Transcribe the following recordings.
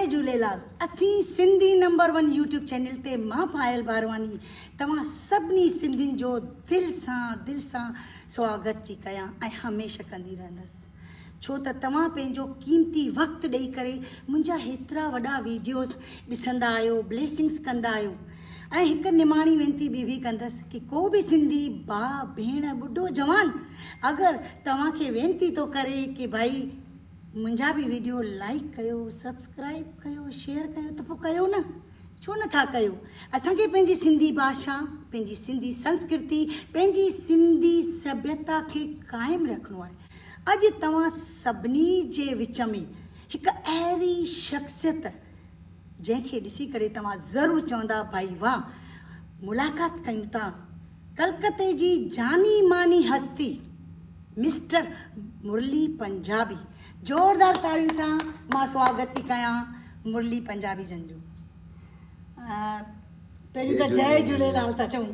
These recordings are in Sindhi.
جئي جهوليلال اسين Sindhi number one YouTube channel تي مان پايل بارواڻي توهان سڀني سنڌين جو دل سان دل سان سواگت ٿي ڪيان ۽ هميشه ڪندي رهندس ڇو ته توهان پنهنجو قيمتي وقت ڏئي ڪري منهنجا هيترا وڏا ويڊيوز ڏسندا آهيو بليسنگس ڪندا آهيو ۽ هڪ نماڻي وينتي ٻي به ڪندس ڪي ڪو به سنڌي ڀاء ڀيڻ ٻڍو جوان اگر توهان کي وينتي ٿو ڪري ڪي ڀائي منهنجا به ويڊيو لائڪ ڪيو سبسڪرائب ڪيو شيئر ڪيو ته پوء ڪيو نه ڇو نٿا ڪيو اسان کي پنهنجي سنڌي باشا پنهنجي سنڌي سنسڪرتي پنهنجي سنڌي سڀيتا کي قائم رکڻو آهي اڄ توهان سڀني جي وچ ۾ هڪ اهڙي شخصيت جنهن کي ڏسي ڪري توهان ضرور چوندا ڀائي واهه ملاقات ڪيون ٿا ڪلڪتي جي جاني ماني هستي مسٽر مرلي پنجابي زوردار تاڙين سان مان سواگت ٿي ڪيان مرلي پنجابي جن جو پهريون ته جي جهليلال ٿا چون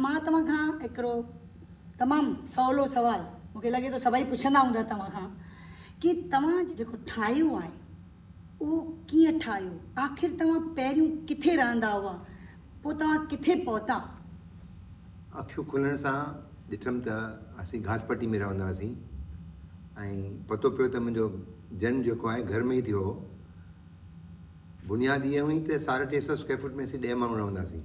مان توهان کان هڪڙو تمام سولو سوال مونکي لڳي ٿو سڀئي پڇندا هوندا توهان کان ڪي توهان جيڪو ٺاهيو آهي اهو ڪيئن ٺاهيو؟ آخر توهان پهريون ڪٿي رهندا هئا؟ پوء توهان ڪٿي پهتا؟ اکيون کلڻ سان ڏٺم ته اسين گهاس پٽي ۾ رهندا هئاسين ۽ پتو پيو ته منهنجو جنم جيڪو آهي گهر ۾ ئي ٿيو هو. بنياد اها هئي ته ساڍا ٽي سؤ اسڪوائر فوٽ ۾ اسين ڏهه ماڻهو رهندا هئاسين.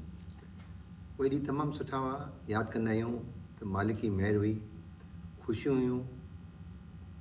اهي ڏينهن تمام سٺا هئا، ياد ڪندا آهيون ته مالڪ جي مهر هئي، خوشيون هيون.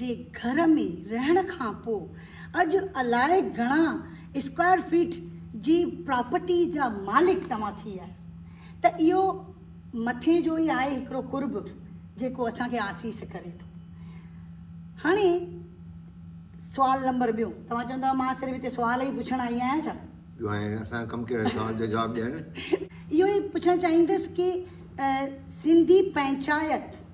جي گهر ۾ رهڻ کان پوء اڄ الائي گهڻا اسڪوائر فيٽ جي پراپرٽي جا مالڪ توهان ٿي آهيو ته اهو مٿين جو ئي آهي هڪڙو قرب جيڪو اسان کي آسيس ڪري ٿو. هاڻي سوال نمبر ٻيو توهان چوندو مان صرف هتي سوال ئي پڇڻ آئي آهيان ڇا؟ جو هاڻي اسان جو ڪم ڪيو آهي سوال جو جواب ڏيڻ. اهو ئي پڇڻ چاهيندس ڪي سنڌي پنچائت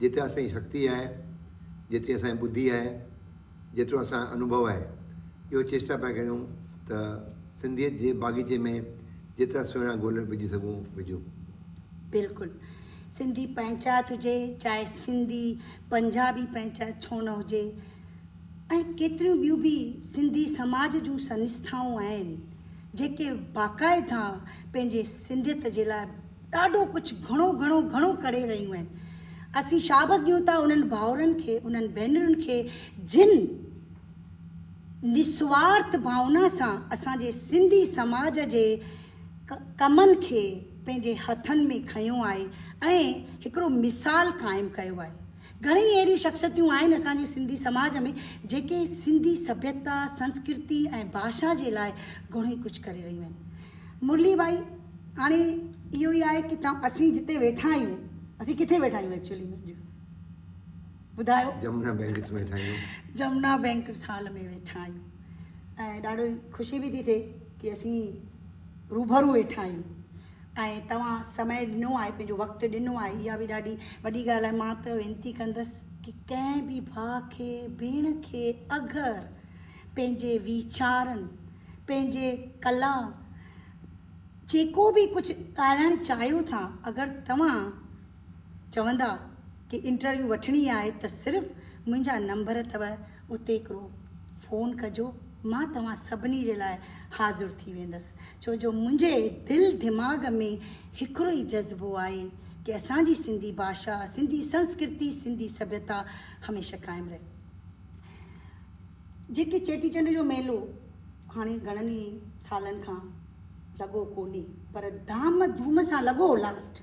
جيترا اسان جي شڪتي آهي، جيتري اسان جي ٻڌي آهي، جيترو اسان جو انوڀو آهي، اهو چيسٽا پيا ڪريون ته سنڌيت جي باغيچي ۾ جيترا سهڻا گل وجهي سگهون، وجهون. بلڪل. سنڌي پنهچات هجي، چاهي سنڌي پنجابي پنهچات ڇو نه هجي ۽ ڪيتريون ٻيون به سنڌي سماج جون سنسٿائون آهن، جيڪي باقائده پنهنجي سنڌيت جي لاء ڏاڍو ڪجهه گهڻو گهڻو گهڻو ڪري رهيون آهن اسين شابس ڏيون ٿا انهن ڀائرن کي انهن ڀينرن کي جن نسوارٿ ڀاونا سان اسان جي سنڌي سماج جي ڪمن کي پنهنجي هٿن ۾ کنيو آهي ۽ هڪڙو مثال قائم ڪيو آهي گهڻيئي اهڙيون شخصيتون آهن اسان جي سنڌي سماج ۾ جيڪي سنڌي سڀيتا، سنسڪرتي ۽ ڀاشا جي لاء گهڻوئي ڪجهه ڪري رهيون آهن. مرلي ڀائي هاڻي اهو ئي آهي ڪي ته اسين جتي ويٺا آهيون اسين ڪٿي ويٺا آهيون ايڪچولي ۾ اڄ ٻڌايو. جمنا بينڪٽس ۾ ويٺا آهيون. جمنا بينڪٽس هال ۾ ويٺا آهيون ۽ ڏاڍو ئي خوشي به ٿي ٿئي ڪي اسين روبرو ويٺا آهيون. ۽ توهان سمي ڏنو آهي پنهنجو وقت ڏنو آهي اها به ڏاڍي وڏي ڳالهه آهي مان ته وينتي ڪندس ڪي ڪنهن به ڀاء کي ڀيڻ کي اگر پنهنجي ويچارن پنهنجي ڪلا جيڪو به ڪجهه ڳالهائڻ چاهيو ٿا اگر توهان چوندا ڪي انٽرويو وٺڻي آهي ته صرف منهنجا نمبر اٿو اتي هڪڙو فون ڪجو مان توهان سڀني جي لاء حاضر ٿي ويندس ڇو جو منهنجي دل دماغ ۾ هڪڙو ئي جذبو آهي ڪي اسان جي سنڌي ڀاشا سنڌي سنسڪرتي سنڌي سڀيتا هميشه قائم رهي جيڪي چيٽي چنڊ جو ميلو هاڻي گهڻن ئي سالن کان لڳو ڪوني پر ڌام ڌوم سان لڳو لاسٽ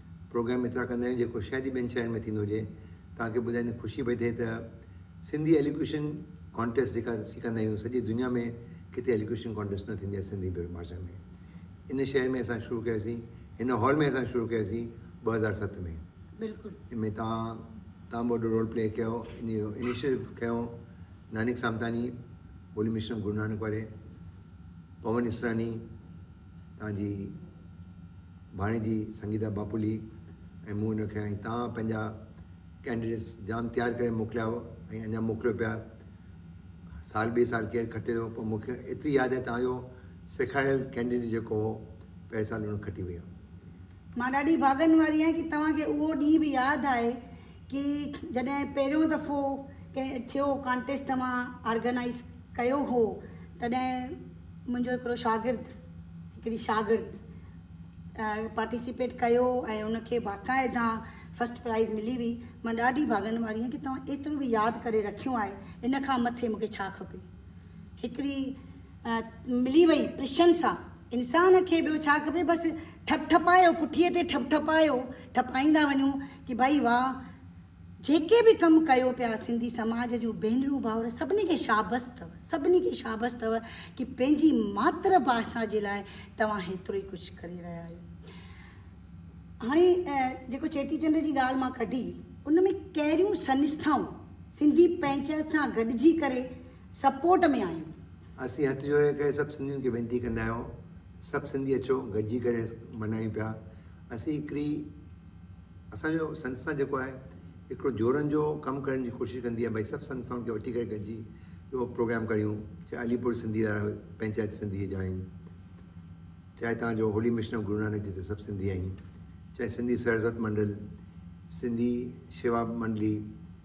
پروگرام ايترا ڪندا آهيون جيڪو شايد ئي ٻين شهرن ۾ ٿيندو هجي. توهان کي ٻڌائيندي خوشي پئي ٿئي ته سنڌي الوڪيوشن ڪانٽيسٽ جيڪا اسين ڪندا آهيون سڄي دنيا ۾ ڪٿي الوڪيوشن ڪانٽيسٽ نه ٿيندي آهي سنڌي ڀاشا ۾. ان شهر ۾ اسان شروع ڪياسين هن هال ۾ اسان شروع ڪياسين ٻه هزار ست ۾ بلڪل. ان ۾ توهان تمام وڏو رول پلي ڪيو ان جو انيشيٽو کنيو نانيڪ سامتاني، هولي مشن گرونانڪ واري، پون اسراڻي، تان جي ڀاڻيجي سنگيتا باپولي ۽ مون هن کي ۽ تان پنهنجا ڪينڊيڊيٽس جام تيار ڪري موڪليا هئا ۽ اڃا موڪليو پيا سال ٻي سال ڪير کٽي ٿو پر مون کي ايتري ياد آهي تان جو سيکاريل ڪينڊيڊيٽ جيڪو هو پهرين سال هن کٽي ويو مان ڏاڍي ڀاڳن واري آهيان ڪي توهان کي اهو ڏينهن به ياد آهي ڪي جڏهن پهريون دفعو ڪنهن ٿيو ڪانٽيسٽ توهان آرگنائيز ڪيو هو تڏهن منهنجو هڪڙو شاگرد هڪڙي شاگرد پارٽيسپيٽ ڪيو ۽ ان کي باقاعده فسٽ پرائز ملي وئي مان ڏاڍي ڀاڳن واري آهيان ڪي توهان ايترو به ياد ڪري رکيو آهي ان کان مٿي مونکي ڇا کپي هڪڙي ملي وئي پرشن سان انسان کي ٻيو ڇا کپي بس ٺپ ٺپايو پٺيء تي ٺپ ٺپايو ٺپائيندا وڃو ڪي ڀائي واھ جيڪي به ڪم ڪيو پيا سنڌي سماج جون ڀينرون ڀائر سڀني کي شابس اٿو سڀني کي شابس اٿو ڪي پنهنجي ماتر ڀاشا جي لاء توهان هيترو ئي ڪجهه ڪري رهيا آهيو هاڻي جيڪو چيٽي چنڊ جي ڳالهه مان ڪڍي ان ۾ ڪهڙيون سنسٿائون سنڌي پنهنچائت سان گڏجي ڪري سپورٽ ۾ آهيون. اسين هٿ جوڙي ڪري سڀ سنڌين کي وينتي ڪندا آهيون سڀ سنڌي اچو گڏجي ڪري منايون پيا اسين هڪڙي اسان جو سنسٿا جيڪو آهي هڪڙو جوڙن جو ڪم ڪرڻ جي ڪوشش ڪندي آهي ڀائي سڀ سنسٿائن کي وٺي ڪري گڏجي اهو پروگرام ڪريون چاهي عليپور سنڌي پنچائت سنڌي جا آهن چاهي تان جو holy mission of Guru Nanak جتي سڀ سنڌي آهن چاهي سنڌي سرزت منڊل سنڌي شيوا منڊلي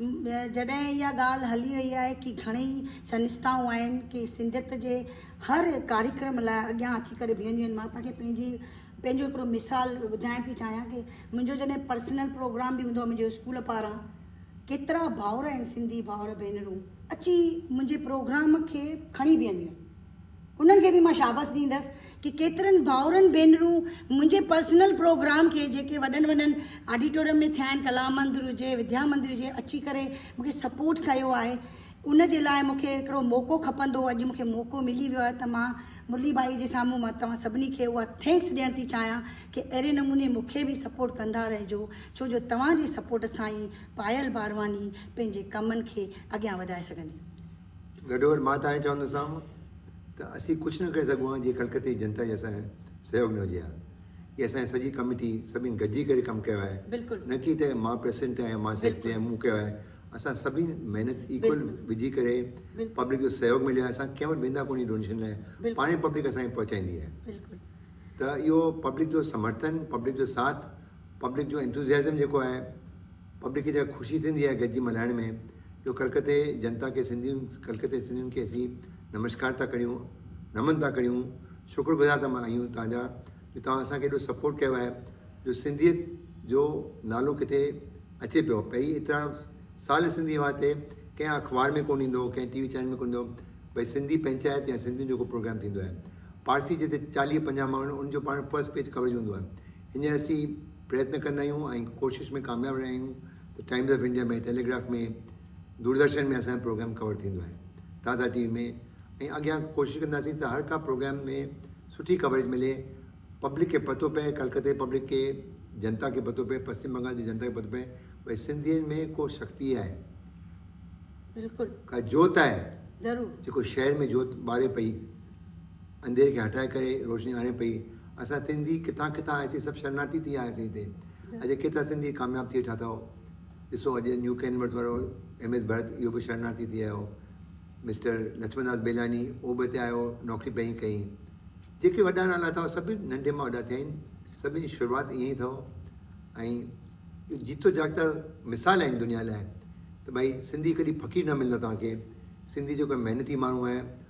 جڏهن اها ڳالهه هلي رهي آهي ڪي گهڻي ئي سنستائون آهن ڪي سنڌيت جي هر ڪاريڪرم لاء اڳيان اچي ڪري بيهنديون آهن مان توهان کي پنهنجي پنهنجو هڪڙو مثال ٻڌائڻ ٿي چاهيان ڪي منهنجو جڏهن پرسنل پروگرام به هوندو آهي منهنجو اسڪول پاران ڪيترا ڀائر آهن سنڌي ڀائر ڀينرون اچي منهنجي پروگرام کي کڻي بيهنديون آهن انهن کي به مان شابس ڏيندس ڪي ڪيترن ڀائرن ڀينرون منهنجي پرسنل پروگرام کي جيڪي وڏن وڏن آڊيٽوريم ۾ ٿيا آهن ڪلا مندر هجي وديا مندر هجي اچي ڪري مون کي سپورٽ ڪيو آهي ان جي لاء مون کي هڪڙو موقعو کپندو اڄ مون کي موقعو ملي ويو آهي ته مان مرلي ڀائي جي سامهون مان توهان سڀني کي اها ٿينڪس ڏيڻ ٿي چاهيان ڪي اهڙي نموني مون کي به سپورٽ ڪندا رهجو ڇو جو توهان جي سپورٽ سان ئي پايل بارواڻي پنهنجي ڪمن کي اڳيان وڌائي سگهندي. گڏوگڏ مان ته ائين چوندوسانو ته اسين ڪجهه نه ڪري سگهون ها جي ڪلڪتي جي جنتا جي اسان کي سهيوڳ نه هجي ها جي اسان جي سڄي ڪميٽي سڀين گڏجي ڪري ڪم ڪيو آهي بلڪل نه ڪي ته مان پريسڊنٽ آهيان مان سيڪريٽري آهيان مون ڪيو آهي اسان سڀين محنت ايڪول وجهي ڪري پبلڪ جو سهيوڳ مليو آهي اسان ڪنهن وٽ ويندا ڪونه ڊونيشن لاء پاڻي پبلڪ اسان کي پهچائيندي آهي بلڪل ته اهو پبلڪ جو سمرٿن پبلڪ جو ساٿ پبلڪ جو انتوزيازم جيڪو آهي پبلڪ کي جيڪا خوشي ٿيندي آهي گڏجي ملهائڻ ۾ جو ڪلڪتي جنتا کي سنڌين ڪلڪتي سنڌين کي اسين نمشڪار ٿا ڪريون نمن ٿا ڪريون شڪر گذار ٿا آهيون توهان جا جو توهان اسان کي ايڏو سپورٽ ڪيو آهي جو سنڌيت جو نالو ڪٿي اچي پيو پهرين ايترا سال سنڌي هئا تي ڪنهن اخبار ۾ ڪون ايندو ڪنهن ٽي وي چينل ۾ ڪون ايندو بھي سنڌي پنچائت يا سنڌين جو ڪو پروگرام ٿيندو آهي پارسي جتي چاليهه پنجاهه ماڻهو ان جو پاڻ فرسٽ پيج ڪوريج هوندو آهي هينئر اسين پريتن ڪندا آهيون ۽ ڪوشش ۾ ڪامياب رهيا آهيون ته Times of India ۾، Telegraph ۾، Doordarshan ۾ اسان جو پروگرام ڪور ٿيندو آهي، تازا ٽي وي ۾ ۽ اڳيان ڪوشش ڪنداسين ته هر ڪا پروگرام ۾ سٺي ڪوريج ملي، پبلڪ کي پتو پئي، ڪلڪته جي پبلڪ کي، جنتا کي پتو پئي، پسچم بنگال جي جنتا کي پتو پئي ڀئي سنڌين ۾ ڪو شڪتي آهي، بلڪل ڪا جوت آهي ضرور جيڪو شهر ۾ جوت ٻاري پئي. انڌيري کي هٽائي ڪري روشني آڻي پئي. اسان سنڌي ڪٿان ڪٿان آياسين سڀ شرناٿي ٿي آياسين هتي. اڄ ڪيترا سنڌي ڪامياب ٿئي ٺا اٿئو. ڏسو اڄ نيو ڪينورٿ وارو ايم ايس ڀرت اهو به شرناٿي ٿي آيو. مسٽر لڇمن داس بيلاني اهو به هتي آيو نوڪري پئي ڪئي. جيڪي وڏا نالا اٿئو سڀ ننڍي مان وڏا ٿيا آهن. سڀني جي شروعات ائين ئي اٿئو. ۽ اهو جيتو جاڳتا مثال آهن دنيا لاء ته ڀائي سنڌي ڪڏهن فقير نه ملندو توهان کي. سنڌي جيڪو محنتي ماڻهو آهي.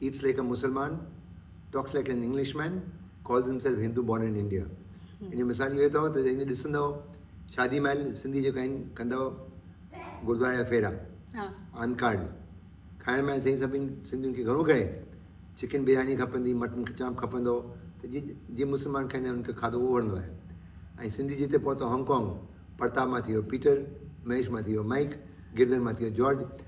Eats like a Musalman, Talks like an Englishman, Calls himself Hindu born in India. ان جو مثال اهو اٿو ته جڏهن به ڏسندؤ شادي مهل سنڌي جيڪا آهن ڪندؤ گردواري جا ڦيرا آن ڪارڊ کائڻ مهل سائين سڀني سنڌين کي گهڻو ڪري چڪن برياني کپندي مٽن چانپ کپندو ته جي جي مسلمان کائيندا آهن ان کي کاڌو اهو وڻندو آهي ۽ سنڌي جتي پهتو هانگ ڪانگ پرتاب مان ٿي ويو پيٽر مهيش مان ٿي ويو مائيڪ گردن مان ٿي ويو جارج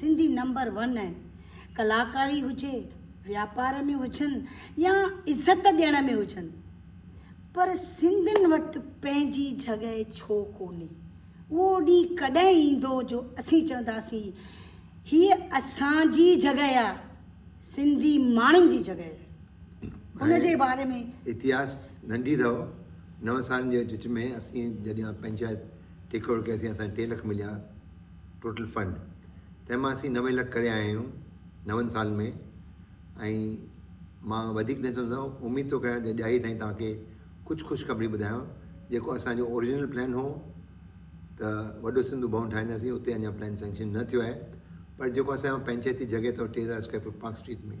سنڌي نمبر ون آهن ڪلاڪاري هجي واپار ۾ هجن يا عزت ڏيڻ ۾ هجن پر سنڌين وٽ پنهنجي جڳهه ڇو ڪونهي اهو ڏينهن ڪڏهن ايندو جو اسين چونداسين هيء اسان جي جڳهه آهي سنڌي ماڻهن جي جڳهه آهي ان جي باري ۾ اتهاس ننڍي اٿو نو سالن جي وچ ۾ اسين جڏهن پنهنجا ٽي ڪروڙ ڪياسين اسان ٽي لک مليا ٽوٽل فنڊ تنهن مان اسين نوي لک ڪري آيا آهيون نون سال ۾ ۽ مان وڌيڪ نه چوندو اميد ٿو ڪيان ته ڏياري تائين توهان کي ڪجهه خوشخبري ٻڌايان جيڪو اسان جو اوريجنل پلان هو ته وڏو سنڌو ڀون ٺاهينداسين اتي اڃا پلان سينڪشن نه ٿيو آهي پر جيڪو اسان جو پنچائتي جڳهه ته ٽي هزار اسڪوائر فوٽ پارڪ اسٽريٽ ۾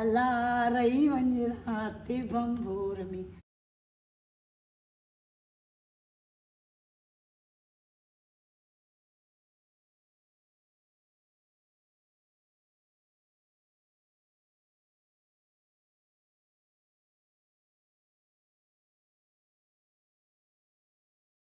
الا رهي وڃ رات ڀنڀور ۾.